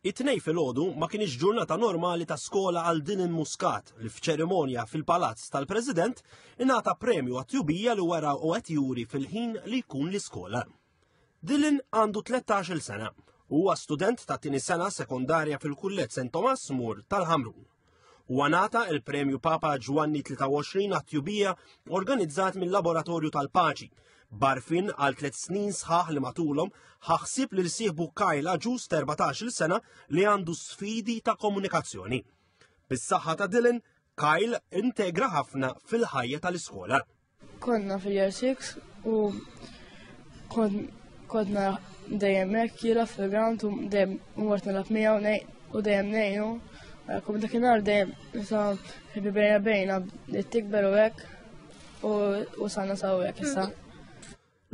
It-Tnejn filgħodu ma kienx ġurnata normali ta' skola għal Dylan Muscat li f'ċerimonja fil-Palazz tal-President ingħata premju għat-tjubija li wara u qed juri fil-ħin li jkun l-iskola. Dylan għandu 13-il sena u huwa student ta' tieni sena sekondarja fil-Kulleġġ St. Thomas More tal-Ħamrun. u għanata il-Premju Papa Ġwanni 23 għat-tjubija organizzat mill-Laboratorju tal-Paċi. Barfin għal tliet snin sħaħ li matulhom ħaħsib li rsiħbu Kyle Aġus 14 sena li għandu sfidi ta' komunikazzjoni. Bis-saħħa ta' Dylan, Kyle integra ħafna fil-ħajja tal-iskola. Konna fil-year 6 u kodna dejjem hekk jiela fil-ground u dejjem mort nilgħab miegħu u dejjem ngħinu. Kum dakinhar dejjem sa ħibi bejna bejna li tikber u hekk u sanna saw hekk issa.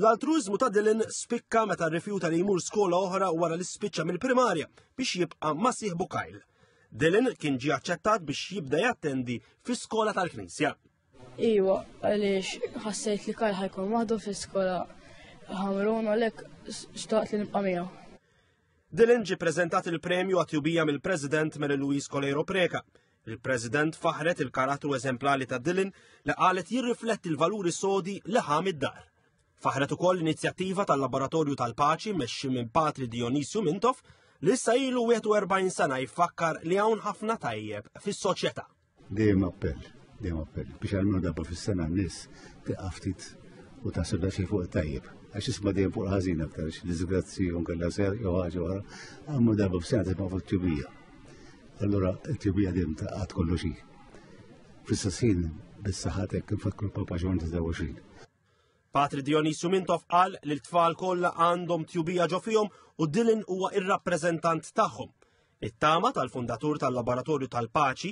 L-altruizmu ta' Dylan spikka meta rrifjuta li jmur skola oħra wara li spiċċa mill-primarja biex jibqa' ma' sieħbu Kyle. Dylan kien ġie aċċettat biex jibda jattendi fi skola tal-Knisja. Iwa, għaliex ħassejt li Karl ħajkun waħdu fl-iskola ħamrun għalhekk xtaqt li nibqa' miegħu. Dylan ġi prezentat il-premju għatjubija mill-President Mary Louise Coleiro Preca. Il-President faħret il-karattru eżemplali ta' Dylan li qalet jirrifletti l-valuri sodi li ħam id-dar. Faħret ukoll l-inizjattiva tal-Laboratorju tal-Paċi mexxi minn Patri Dionisju Mintof li issa ilu 41 sena jfakkar li hawn ħafna tajjeb fis-soċjetà. Dejjem appell, dejjem appell, biex għalmenu darba fis-sena n-nies tiqa' ftit u ta' sebda xi fuq tajjeb. Għax isma' dejjem fuq ħażin aktar, disgrazzi u nkella ser jew ħaġa oħra, għamlu darba fis-sena tisma' fuq tjubija. Allura t-tjubija dejjem ta' qatt kollox hi. Fl-istess ħin bis-saħħatek kif fakkru papa ġon 23. Patri Dionisiu Mintoff qal li l-tfal kollha għandhom tjubija ġo fihom u Dylan huwa ir-rappreżentant tagħhom. It-tama tal-fundatur tal-Laboratorju tal-Paċi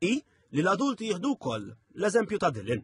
hi li l-adulti jieħdu wkoll l-eżempju ta' Dylan.